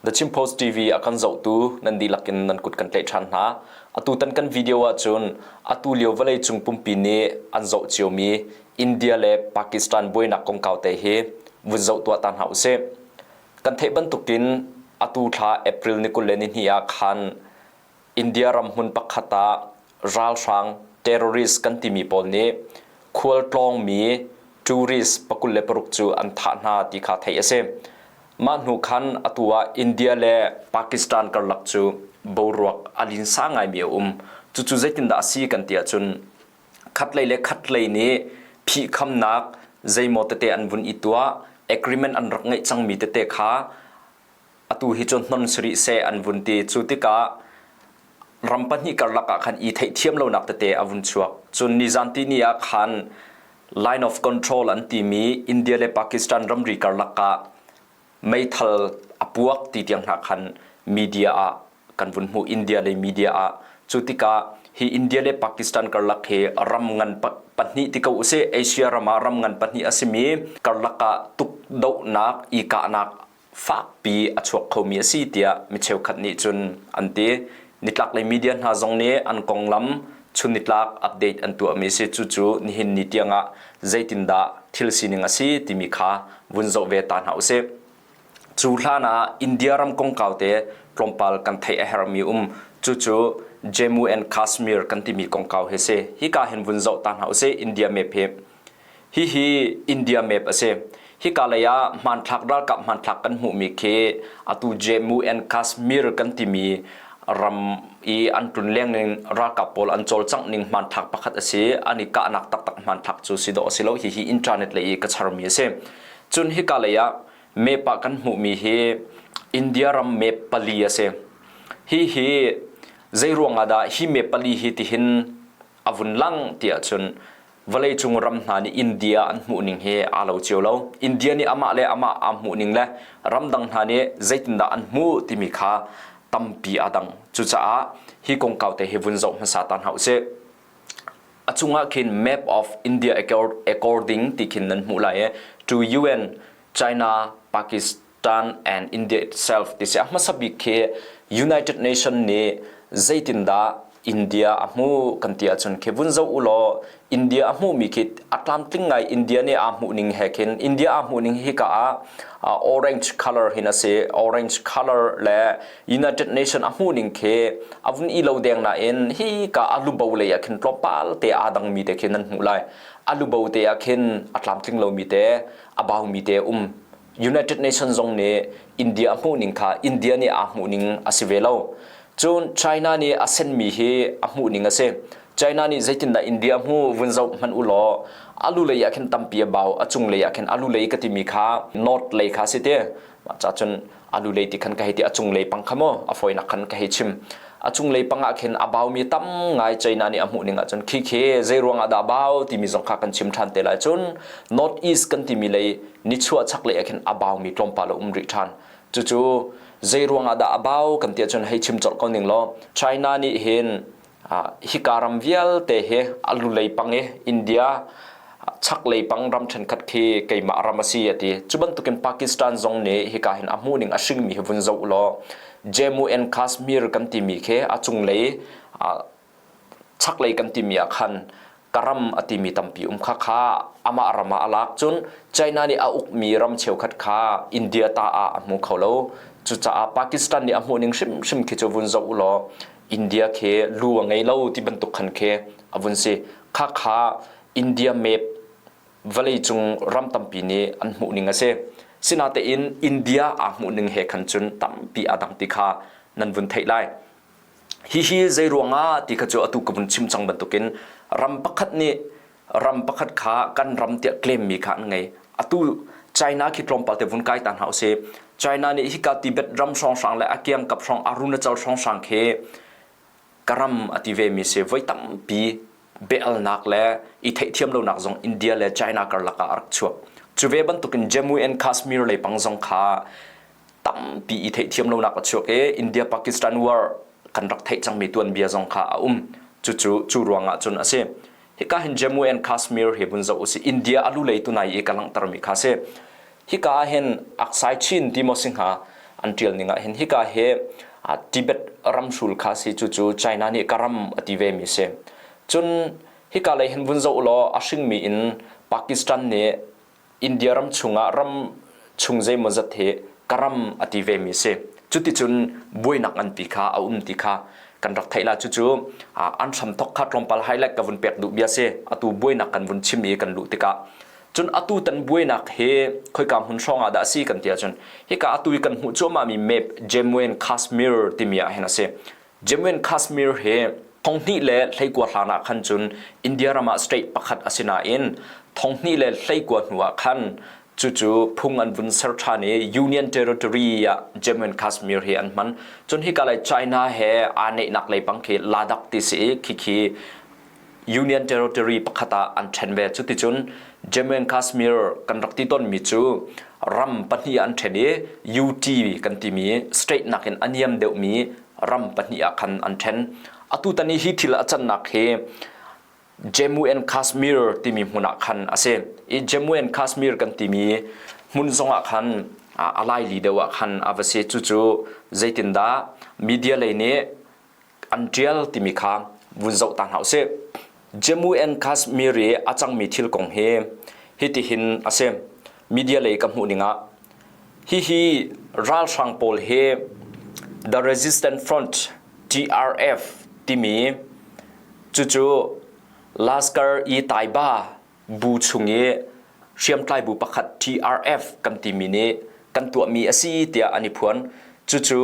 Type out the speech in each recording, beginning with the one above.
The Chin Post TV a kan zohtu nan dihlak in nan kut kan tlaih ṭhan hna. Atutan kan video ahcun atu lio vawleicung pumpi nih an zoh ciomi India le Pakistan buainak kongkau te hi vun zoh tuah ta hna usih. Kan theih bantukin atu thla April ni kul le nihnih ah khan India ram hmun pakhat ah ralhrang, terrorist, kan timi pawl nih khualtlawngmi tourist pakul le paruk cu an thah hna ti kha theih a si. Mah hnu khan atu ah India le Pakistan karlak cu boruak a linsa ngaimi a um. Cucu zeitindah a si kan ti ahcun khatlei le khatlei nih phihkhamnak zeimaw tete an vun i tuah, agreement an rak ngeih cangmi tete kha atu hi cu hnon si rih seh an vun ti. Cu tikah ram pahnih karlak ah khan i theihthiam lonak tete a vun chuak. Cun nizanti ni ah khan line of control an timi India le Pakistan ramri karlak ah meithal a puak ti tiang hna khan media ah kan vun hmuh India le media ah. Cu tikah hi India le Pakistan karlak hi ram ngan pahnih ti ko usih Asia ram ah ram ngan pahnih a simi karlak ah tukdohnak i kahnak fakpi a chuak khomi a si tiah mi cheukhat nih cun an ti. Nitlaklei media hna zong nih an konglam chunnitlak update an tuahmi a si. Cucu nihin ni tiangah zeitindah thil sining a si timi kha vun zoh ve ta hna usih. Cu hlan ah India ram kongkau te tlawmpal kan theih a herhmi um. Cucu Jammu and Kashmir kan timi kongkau hi si. Hika hin vun zoh ta hna usih. India map hi Hihi India map a si. Hika lei ah hmanthlak ralkap hmanthlak kan hmuhmi khi atu Jammu and Kashmir kan timi ram i an tlun lengning ralkap pawl an cawlcangh ning hmanthlak pakhat a si. An i kahnak taktak hmanthlak cu si dawh a si lo. Hihi internet lei i ka charmi a si. Cun hika lei ah map ah kan hmuhmi hi India ram map pali a si. Hihi zeiruangah dah hi map pali hi tihin a vun lang ti ahcun vawleicung ram hna nih India an hmuhning hi aa lo cio lo. India nih amah le amah aa hmuhning le ramdang hna nih zeitindah an hmuh timi kha tampi aa dang. Cucaah hi kongkau te hi vun zoh hmasa ta hna usih. A cungah khin Map of India According ti khin nan hmuh lai i, to UN, China, Pakistan, Ṭan and India itself ti si a hmasa bik khi United Nation nih zeitindah India a hmuh kan ti ahcun khi vun zoh ulaw India a hmuhmi khi a tlamtling ngai India nih aa hmuhning he khin India aa hmuhning hika ah orange colour hin a si orange colour le United Nation a hmuhning khi a vun i lo deng nain hika a lubo lei ah khin tlawmpal te aa dangmi te khin an hmuh lai a lubo te ah khin a tlamtling lomi te a baumi te um United Nations zong nih India a hmuhning kha India nih aa hmuhning a si ve lo. Cun China nih a senmi hi a hmuhning a si. China nih zeitindah India hmu vun zoh hmanh u law a lulei ah khin tampi a bau, a cunglei ah khin a lulei ka timi kha north lei kha a si ti. Mah cah cun a lulei ti khan ka hei ti, a cunglei pang kha maw a fawinak khan ka hei chim. a cunglei pang ah khin a baumi tam ngai China nih a hmuh ning ahcun khikhe zeiruang ah dah a bau timi zong kha kan chim ṭhan te lai cun North East kan timi lei nichuah chaklei ah khin a baumi tlawmpal a um rih ṭhan. Cucu zeiruang ah dah a bau kan ti ahcun hei chim colh ko ning law China nih hin hika ram vialte hi a lulei pang i India chaklei pang ram ṭhenkhat khi keimah ram a si a ti. Cu bantukin Pakistan zong nih hika hin a hmuhning a hringmi hi vun zoh u law Jammu and Kashmir kan timi khi a cunglei chaklei kan timi ah khan ka ram a timi tampi um kha kha amah ram ah a lak cun China nih a ukmi ram cheukhat kha India ta ah a hmu kho lo. Cucaah Pakistan nih a hmuhning hrimhrim khi cu vun zoh u law India khi lu a ngei lo ti bantuk khan khi a vun si. Khakha India map vawleicung ram tampi nih an hmuhning a si. Sinatein India aa hmuhning he khan cun tampi aa dang ti kha nan vun theih lai. Hihi zeiruangah ti kha cu atu ka vun chim cang bantukin ram pakhat nih ram pakhat kha kan ram tiah claimmi kha an ngei. Atu China khi tlawmpal te vun kai ta hna usih. China nih hika Tibet ram hrawnghrang le a kiangkap hrang arunachal hrawnghrang khi ka ram a ti vemi si voi tampi bealnak le i theihthiam lonak zong India le China karlak ah a rak chuak cu ve bantukin Jammu and Kashmir leipang zong kha tampi i theihthiam lonak a chuak i India Pakistan war kan rak theih cangmi tuanbia zong kha a um cucu cu ruangah cun a si hika hin Jammu and Kashmir hi vun zoh u si India a lu lei tunai i ka langhtermi kha si Hika ah hin Aksai Chin Dimosi hna an ṭialning ah hin hika hi Tibet ramhrul kha a si, cucu China nih ka ram a ti vemi a si. Cun hika lei hin vun zoh u law a hringmi in Pakistan nih India ram chungah ram chung zeimawzat hi ka ram a ti vemi a si. Cuticun buainak nganpi kha a um ti kha kan rak theih la. Cucu an hramthawk kha tlawmpal highlight ka vun pek duh bia a si. Atu buainak kan vun chim i kan luh tikah Cun atutan buainak hi khoika hmun hrawng ah dah a si kan ti ahcun hika atu i kan hmuh cuahmahmi map Jammu and Kashmir timi ah hin a si. Jammu and Kashmir hi thonghnih le hleikua hlan ah khan cun India ram ah state pakhat a si nain thonghnih le hleikua hnu ah khan cucu phung an vun ser ṭhan i Union Territory ah Jammu and Kashmir hi an hman. Cun hika lei China he aa neihnak leipang khi Ladakh ti si i khikhi Union Territory pakhat ah an ṭhen ve. Cuticun Jammu and Kashmir kan rak ti tawnmi cu ram pahnih an ṭhen i UT kan timi state nakin a niam deuhmi ram pahnih ah khan an ṭhen. Atutan i hi thil a cannak hi Jammu and Kashmir timi hmun ah khan a si i Jammu and Kashmir kan timi hmun zongah khan a laili deuh ah khan a va si. Cucu zeitindah media lei nih an ṭial timi kha vun zoh ta hna u sih. Jammu and Kashmir i a cangmi thil kong hi hitihin a si. Media lei ka hmuh ning ah hihi ralhrang pawl hi The Resistance Front TRF timi cucu Lashkar-e-Taiba bu chung i hriamtlai bu pakhat TRF kan timi nih kan tuahmi a si tiah an i phuan. Cucu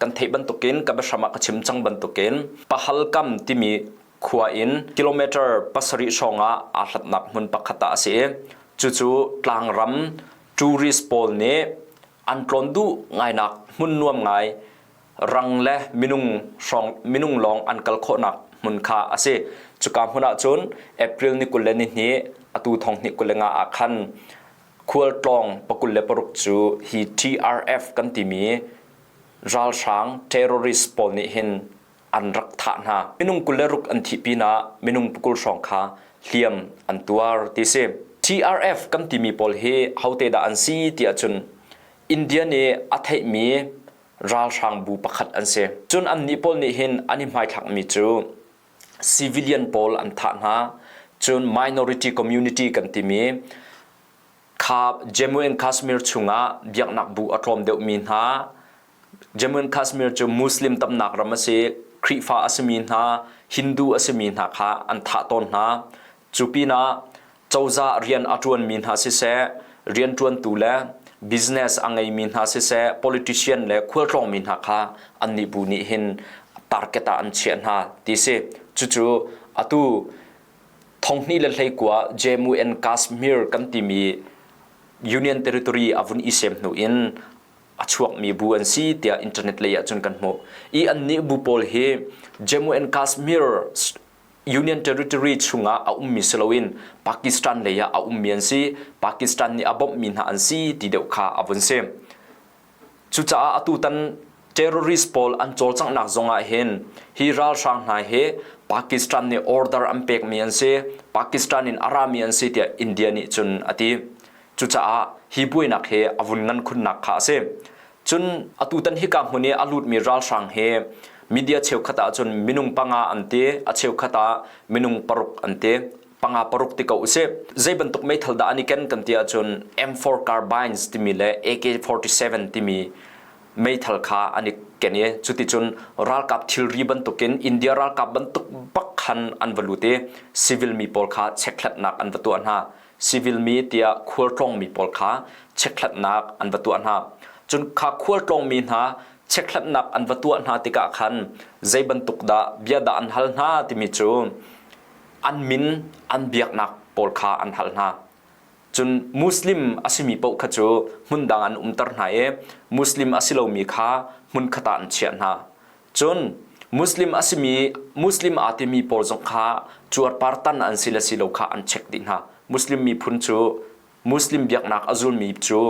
kan theih bantukin ka biahram ah ka chim cang bantukin Pahalkam timi khua in kilometer pasarih hrawng ah aa hlatnak hmun pakhat ah a si i cucu tlangram tourist pawl nih an tlawn duh ngainak hmun nuam ngai rang le minung hrawng minung lawng an kal khawhnak hmun kha a si. Cuka hmun ahcun April ni kul le ni hnih atu thong hnih kul le nga ah khan khualtlawng pakul le paruk cu hi TRF kan timi ralhrang terrorist pawl nih hin an rak thah hna. Minung kul le ruk an thih pinah minung pakul hrawng kha hliam an tuar ti si. TRF kan timi pawl hi hote dah an si tiah cun India nih a theihmi ralhrangbu pakhat an si. Cun annih pawl nih hin an i hmaithlakmi cu civilian pawl an thah hna. Cun minority community kan timi kha Jammu and Kashmir chungah biaknak bu a tlawm deuhmi hna Jammu and Kashmir cu Muslim tamnak ram a si, Khrihfa a simi hna, Hindu a simi hna kha an thah tawn hna. Cu pinah Cozah rian a ṭuanmi hna siseh, rianṭuantu le business a ngeimi hna siseh, politician le khualtlawngmi hna kha annih bu nih hin target ah an chiah hna ti si. Cucu atu thonghnih le hleikua Jammu and Kashmir kan timi union territory a vun isem hnu in a chuakmi bu an si tiah internet lei ah cun kan hmuh i annih bu pawl hi Jammu and Kashmir Union Territory chungah a ummi si loin Pakistan lei ah a ummi an si. Pakistan nih a bawmhmi hna an si ti deuh kha a vun si. Cucaah atutan terrorist pawl an cawlcanghnak zongah hin hi ralhrang hna hi Pakistan nih order an pekmi an si, Pakistan in a rami an si tiah India nih cun a ti. Cucaah hi buainak hi a vun ngan khunnak kha a si. Cun atutan hika hmun i a lutmi ralhrang hi media cheukhat ahcun minung panga an ti, a cheukhat ah minung paruk an ti. Panga paruk ti ko usih. Zeibantuk meithal dah an i ken kan ti ahcun M4 Carbines timi le AK-47 timi meithal kha an i ken i cuticun ralkap thilri bantukin India ralkap bantuk bak khan an va lut i civil mi pawl kha chekhlatnak an va tuah hna. civil mi tiah khualtlawngmi pawl kha chekhlatnak an va tuah hna. Cun kha khualtlawngmi hna chekhlatnak an va tuah hna tikah khan zei bantuk dah bia dah an hal hna timi cu an min an biaknak pawl kha an hal hna. Cun Muslim a simi paoh kha cu hmun dang an umter hna i Muslim a si lomi kha hmunkhat ah an chiah hna. Cun Muslim a simi Muslim aa timi pawl zong kha cuarpartan an si le si lo kha an check dih hna. Muslim miphun cu Muslim biaknak a zulmi cu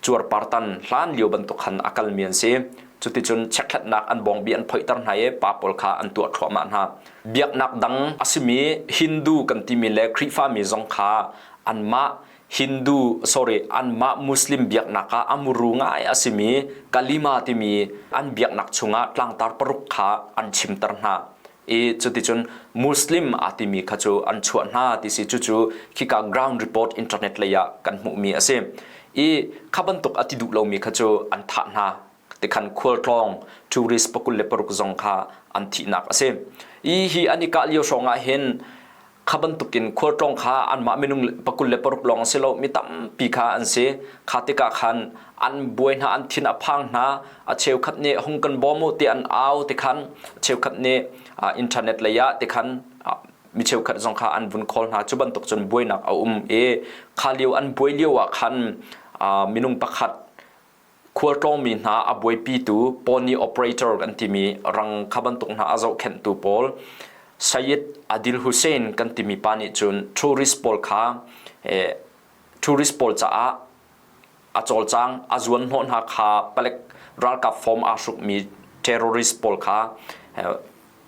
cuarpartan hlan lio bantuk khan a kalmi an si. Cuticun checkhlatnak an bawngbi an phoihter hna i pa pawl kha an tuah thluahmah hna. Biaknak dang a simi Hindu kan timi le Khrihfami zong kha anmah Hindu sorry anmah Muslim biaknak ah a muru ngai a simi Kalima timi an biaknak chungah tlangtar paruk kha an chimter hna i cuticun Muslim a timi kha cu an chuah hna ti si cucu khika ground report internet lei ah kan hmuhmi a si i kha bantuk a ti duh lomi kha cu an thah hna tikhan khualtlawng tourist pakul le paruk zong kha an thihnak a si i hi an i kah lio hrawng ah hin kha bantukin khualtlawng kha anmah minung pakul le paruk lawng si lo mi tampi kha an si kha tikah khan an buai hna an thin a phang hna a cheukhat nih hung kan bawm u ti an au te khan cheukhat nih internet lei ah te khan mi cheukhat zong kha an vun khawl hna cu bantuk cun buainak a um i kha lio an buai lio ah khan minung pakhat Khualtlawngmi hna a buaipitu pony operator kan timi rang kha bantuk hna a zohkhenhtu pawl Sayed Adil Hussein kan timi pa nih cun tourist pawl kha tourist pawl caah a cawlcang a zuanhnawh hna kha palek ralkap form aa hrukmi terrorist pawl kha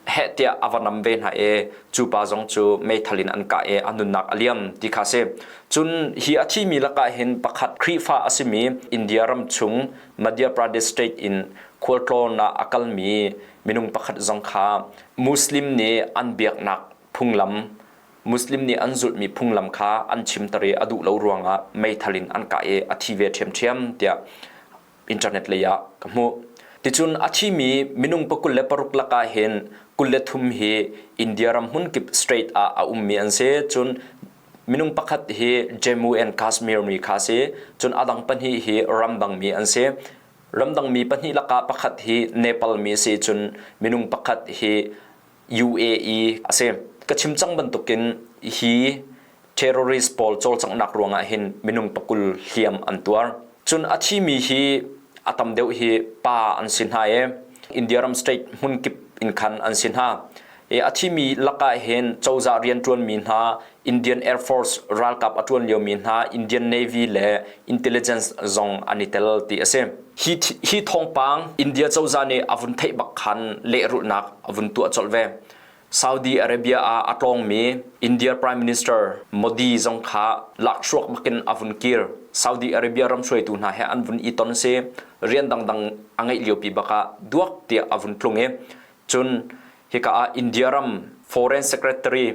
heh tiah a va nam ve hna i cu pa zong cu meithal in an kah i a nunnak a liam ti kha a si. Cun hi a thimi lakah hin pakhat Khrihfa a simi India ram chung Madhya Pradesh state in khualtlawn ah a kalmi minung pakhat zong kha Muslim nih an biaknak phunglam Muslim nih an zulhmi phunglam kha an chimter i a duh lo ruangah meithal in an kah i a thi ve ṭhiamṭhiam tiah internet lei ah ka hmuh. Ticun a thimi minung pa kul le paruk lakah hin kul le thum hi India ram hmunkip state ah a ummi an si. Cun minung pakhat hi Jammu and Kashmir mi kha a si. Cun a dang pahnih hi ramdangmi an si. Ramdangmi pahnih lakah pakhat hi Nepal mi a si. Cun minung pakhat hi UAE a si. Ka chim cang bantukin hi terrorist pawl cawlcanghnak ruangah hin minung pakul hliam an tuar. Cun a thimi hi a tam deuh hi pa an si hna i India ram state hmunkip in khan an si hna. I a thimi lakah hin cozah rianṭuanmi hna Indian Air Force ralkap a ṭuan liomi hna Indian Navy le intelligence zong an i tel ti a si. Hi hi thawngpang India cozah nih a vun theih bak khan lehrulhnak a vun tuah colh ve. Saudi Arabia ah a tlawngmi India Prime Minister Modi zong kha lakhruak bakin a vun kir. Saudi Arabia ram hruaitu hna he an vun i ton a si. Rian dangdang a ngeih liopi bak ah duak tiah a vun tlung i Cun hika ah India ram Foreign Secretary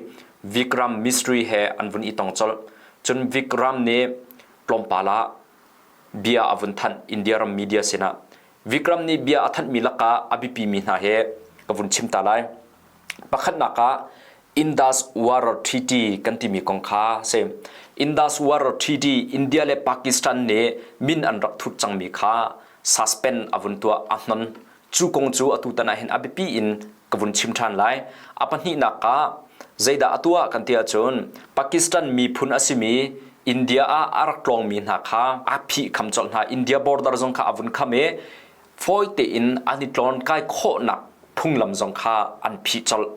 Vikram Mistry he an vun i tong colh. Cun Vikram nih tlawmpal ah bia a vun thanh India ram media sinah. Vikram nih bia a thanhmi lakah a biapimi hna he ka vun chim ta lai. Pakhatnak ah Indus Water Treaty kan timi kong kha a si. Indus Water Treaty India le Pakistan nih min an rak thut cangmi kha suspend a vun tuah, a hnon. Cu kong cu atutan ah hin a biapi in ka vun chim ṭhan lai. A pahnihnak ah, zeidah a tuah kan ti ahcun Pakistan miphun a simi India ah a rak tlawngmi hna kha aa phihkham colh hna. India border zong kha a vun kham i fawi tein an i tlawnkai khawhnak phunglam zong kha an phih colh.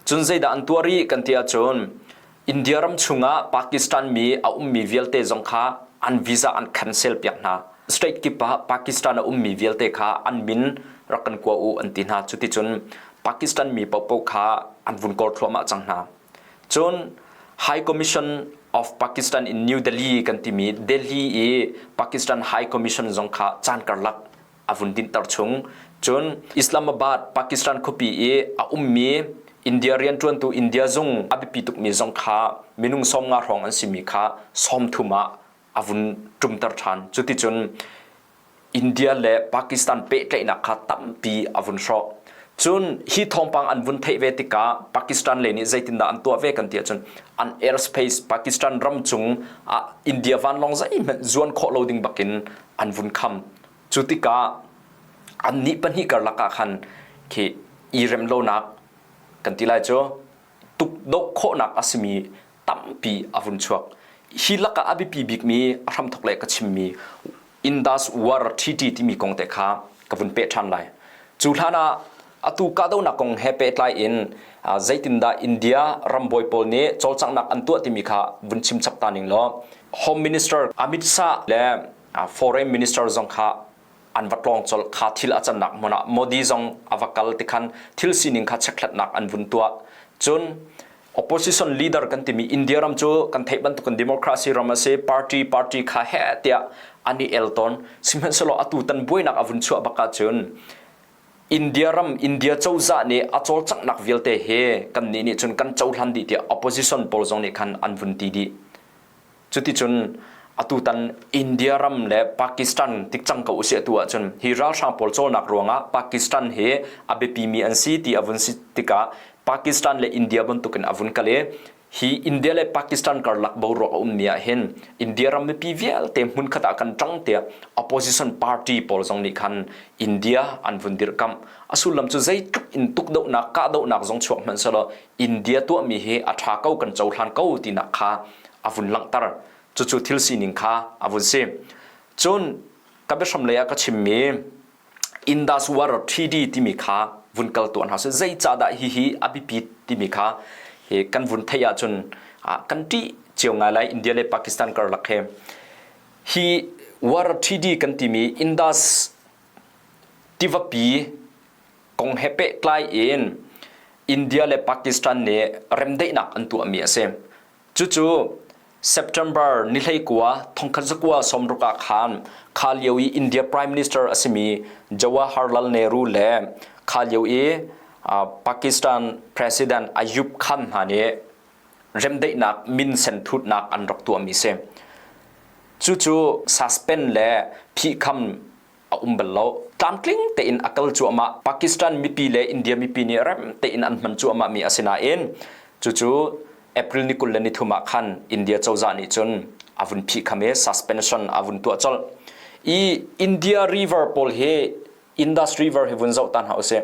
Cun zeidah an tuah rih kan ti ahcun India ram chungah Pakistan mi a ummi vialte zong kha an visa an cancel piak hna. State kip ah Pakistan a ummi vialte kha an min rak kan kua u an ti hna. Cuticun Pakistan mi paohpaoh kha an vun kawr thluahmah cang hna. Cun High Commission of Pakistan in New Delhi kan timi Delhi i Pakistan High Commission zong kha caan karlak a vun dinhter chung cun Islamabad, Pakistan khuapi i a ummi India rianṭuantu India zung a biapi tukmi zong kha minung sawmnga hrawng an simi kha sawmthum ah a vun ṭumter ṭhan. Cuticun India le Pakistan pehtlaihnak kha tampi a vun hrawh. Cun hi thawngpang an vun theih ve tikah Pakistan lei nih zeitindah an tuah ve kan ti ahcun an airspace Pakistan ram cung ah India vanlawng zeihmanh zuan khawh lo ding bakin an vun kham. Cu tikah annih pahnih karlak ah khan khi i rem lonak kan ti lai cu tukdoh khawhnak a simi tampi a vun chuak. Hi lakah a biapi bikmi a hramthok le ka chimmi Indas War Treaty timi kong te kha ka vun peh ṭhan lai. Cu hlan ah atu kahdohnak kong he pehtlai in zeitindah India rambawi pawl nih cawlcanghnak an tuah timi kha vun chim chap ta ning law Home Minister Amit Shah le foreign minister zong kha an va tlawng colh kha thil a cannak hmun ah Modi zong a va kal tikhan thil sining kha chekhlatnak an vun tuah cun opposition leader kan timi India ram cu kan theih bantukin democracy ram a si party party kha he tiah an i el tawn sihmanhsehlaw atu tan buainak a vun chuah bak ahcun India ram India cozah nih a cawlcanghnak vialte hi kan nih nih cun kan cohlan dih tiah opposition pawl zong nih khan an vun ti dih Cuticun atutan India ram le Pakistan tik cang ko usih atu ahcun hi ralhrang pawl cawlnak ruangah Pakistan hi a biapimi an si ti a vun si tikah Pakistan le India bantukin a vun kal i hi India le Pakistan karlak boruak a ummi ahhin India ram mipi vialte hmunkhat ah kan ṭang tiah opposition party pawl zong nih khan India an vun dirhkamh. A sullam cu zeitluk in tukdohnak kahdohnak zong chuak hmanh sehlaw India tuahmi hi a ṭha ko kan cohlan ko tinak kha a vun langhter. Cucu thil sining kha a vun si. Cun ka biahram lei ah ka chimmi Indus War Treaty timi kha vun kal tuah hna seh. Zeicahdah hihi a biapit timi kha hi kan vun theih ahcun kan ṭih cio ngai lai India le Pakistan karlak he. Hi war treaty kan timi Indus tivapi kong he pehtlai in India le Pakistan nih remdaihnak an tuahmi a si. Cucu September ni hleikua thongkhat zakua sawmruk ah khan kha lio i India Prime Minister a simi Jawaharlal Nehru le kha lio i Pakistan President Ayub Khan hna nih remdaihnak minsen thutnak an rak tuahmi si. Cucu suspend le phihkham a um bal lo. Tlamtling tein a kal cuahmah. Pakistan mipi le India mipi nih rem tein an hman cuahmah mi a si nain cucu April ni kul le nithum ah khan India cozah nih cun a vun phihkham i suspension a vun tuah colh i India river pawl hi Indus river hi vun zoh ta hna usih.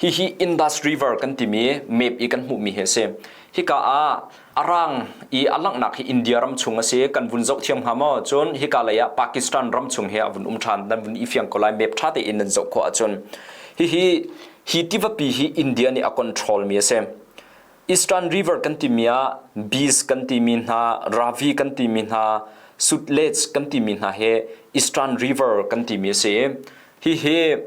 Hihi Indus River kan timi map i kan hmuhmi hi a si. Hika ah a rang i a langhnak hi India ram chung a si. Kan vun zoh thiam hnga maw? Cun hika lei ah Pakistan ram chung hi a vun um ṭhan. Nan vun ifiang ko lai. Map ṭha tein nan zoh khawh ahcun. Hihi hi tivapi hi India nih a controlmi a si. Eastern River kan timi ah bees kan timi hna, ravi kan timi hna, sutlets kan timi hna hi Eastern River kan timi a si i hihi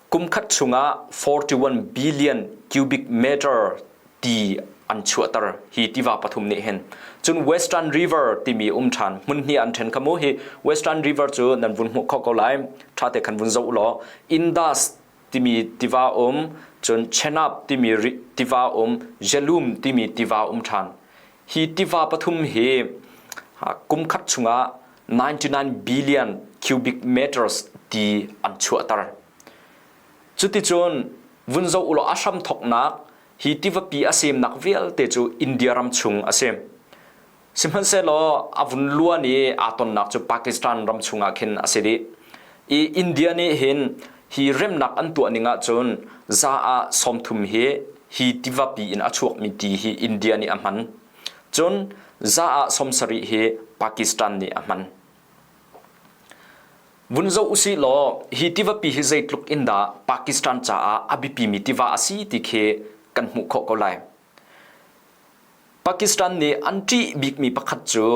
kumkhat chungah 41 billion cubic meter ti an chuahter hi tiva pathum nih hin cun Western River timi um ṭhan hmun hnih an ṭhen kha mu hi Western River cu nan vun hmuh kho ko lai ṭhate khan vun zoh law Indus timi tiva um cun Chenab timi tiva um Jelum timi tiva um ṭhan Hi tiva pathum hi kum khat chungah 99 billion cubic meters ti an chuahter. Cuticun vun zoh ulaw a hram thoknak hi tivapi a semnak vialte cu India ram chung a si. Sihmanhsehlaw a vun luan i aa tonnak cu Pakistan ram chungah khin a si dih. I India nih hin hi remnak an tuah ning ahcun za ah sawmthum hi hi tivapi in a chuakmi ti hi India nih a hman. Cun za ah sawm sarih hi Pakistan nih a hman. Vun zoh usih law hi tivapi hi zeitluk in dah Pakistan caah a biapimi tiva a si ti khi kan hmuh khawh ko lai. Pakistan nih an ṭih bikmi pakhat cu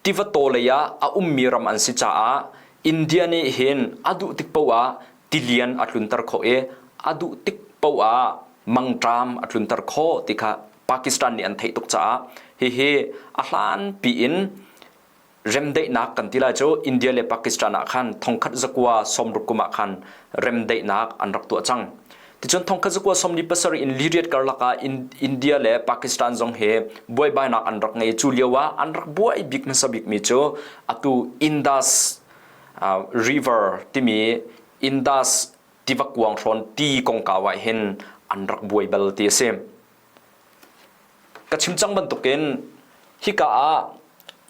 tivato lei ah a ummi ram an si caah India nih hin a duh tik paoh ah tilian a tlunter khawh i a duh tik paoh ah mangṭam a tlunter khawh ti kha Pakistan nih an theih tuk caah hihi a hlanpi in remdaihnak kan ti lai cu India le Pakistan ah khan thongkhat zakua sawmruk kum ah khan remdaihnak an rak tuah cang. Ticun thongkhat zakua sawmli pasarih in liriat karlak ah India le Pakistan zong he buaibainak an rak ngei. Cu lio ah an rak buai bik hmasa bikmi cu atu Indus River timi Indus tivakuang hrawn ti kongkau ah hin an rak buai bal ti a si. Ka chim cang bantukin hika ah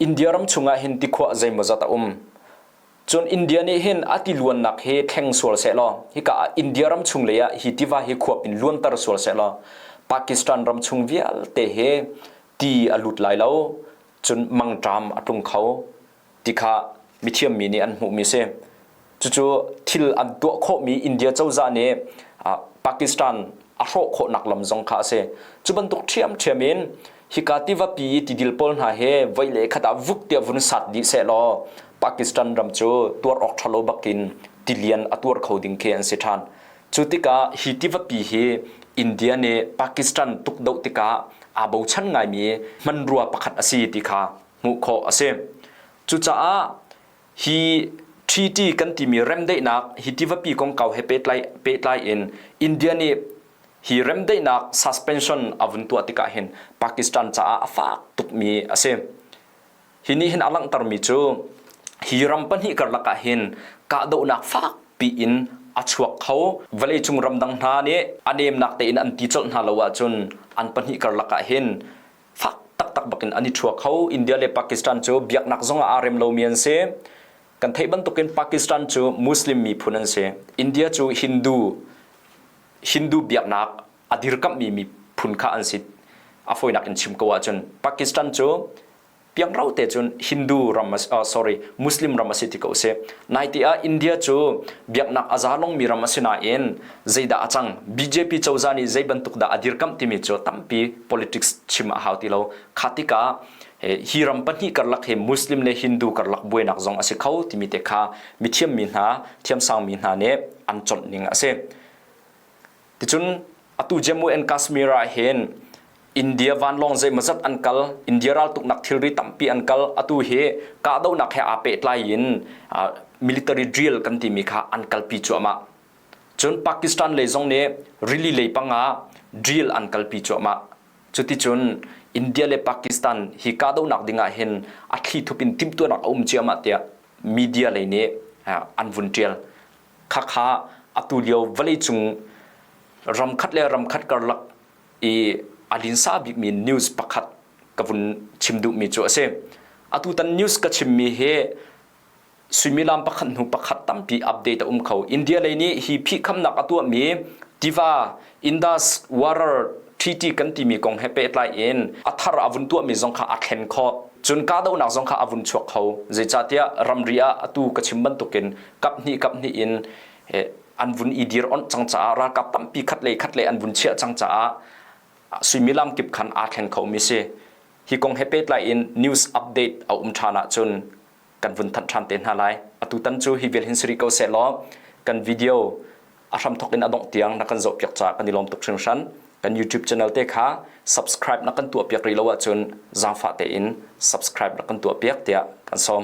India ram chungah hin tikhua zeimawzat a um. Cun India nih hin a tiluannak hi thleng sual sehlaw hika ah India ram chung lei ah hi tiva hi khua in luanter sual sehlaw Pakistan ram chung vialte hi ti a lut lai lo. Cun mangṭam a tlung kho. ti kha mithiammi nih an hmuhmi si. Cucu thil an tuah khawhmi India cozah nih Pakistan a hrawh khawhnak lam zong kha a si. Cu bantuk ṭhiamṭhiam in hika tivapi i tidil pawl hna hi voi le khat ah vuk tiah vun sat dih sehlaw Pakistan ram cu tuar awk ṭhalo bak in tilian a tuar kho ding khi an si ṭhan. Cu tikah hi tivapi hi India nih Pakistan tukdoh tikah aa bochan ngaimi hmanrua pakhat a si ti kha hmuh khawh a si. Cucaah hi treaty kan timi remdaihnak hi tivapi kongkau he pehtlai, pehtlai in India nih hi remdaihnak suspension a vun tuah tik ahhin Pakistan caah a fak tukmi a si. Hi nih hin a langhtermi cu hi ram pahnih karlak ahhin kahdohnak fakpi in a chuak kho. Vawleicung ramdang hna nih a nemnak tein an ti colh hna lo ahcun an pahnih karlak ahhin fak taktak bakin an i thua kho India le Pakistan cu biaknak zong ah aa rem lomi an si kan theih bantukin Pakistan cu Muslim miphun an si India cu Hindu Hindu biaknak a dirkamhmi miphun kha an si a fawinak in chim ko ahcun Pakistan cu piangro te cun Hindu ram uh, sorry Muslim ram a si ti ko si naite ah India cu biaknak a za longmi ram a si nain zeidah a cang, BJP cozah nih zeibantuk dah a dirkamh timi cu tampi politics chim a hau ti lo. Kha tikah hi ram pahnih karlak hi Muslim le Hindu karlak buainak zong a si kho timi te kha mithiammi hna, thiamsangmi hna nih an chawnh ning a si. Ticun atu Jammu and Kashmir ah hin India vanlawng zeimawzat an kal, India raltuknak thilri tampi an kal, atu hi kahdohnak he aa pehtlai in military drill kan timi kha an kalpi cuahmah. Cun Pakistan lei zong nih rili lei pangah drill an kalpi cuahmah. Cuticun India le Pakistan hi kahdohnak ding ah hin a thlithup in timhtuahnak a um ciahmah tiah media lei nih an vun ṭial. Khakha atu lio vawleicung ramkhat le ramkhat karlak i a linsa bikmi news pakhat ka vun chim duhmi cu a si. Atutan news ka chimmi hi suimilam pakhat hnu pakhat tampi update a um kho india lei nih hi phihkhamnak a tuahmi tiva indus water tt kan timi kong he pehtlai in a thar a vun tuahmi zong kha a thlen khawh cun kahdohnak zong kha a vun chuak kho zeicahtiah ramri ah atu ka chim bantukin kap hnih kap hnih in an vun i dir onh cang caah ralkap tampi khat lei khat lei an vun chiah cang caah suimilam kip khan aa thleng khomi si hi kong he pehtlai in news update a um ṭhan ahcun kan vun thanh ṭhan te hna lai atutan cu hi vel hin si rih ko sehlaw kan video a hram thok in a dongh tiang na kan zoh piak ca kan i lawm tuk hringhran kan youtube channel te kha subscribe na kan tuah piak rih lo ahcun zaangfah tein subscribe na kan tuah piak tiah kan sawm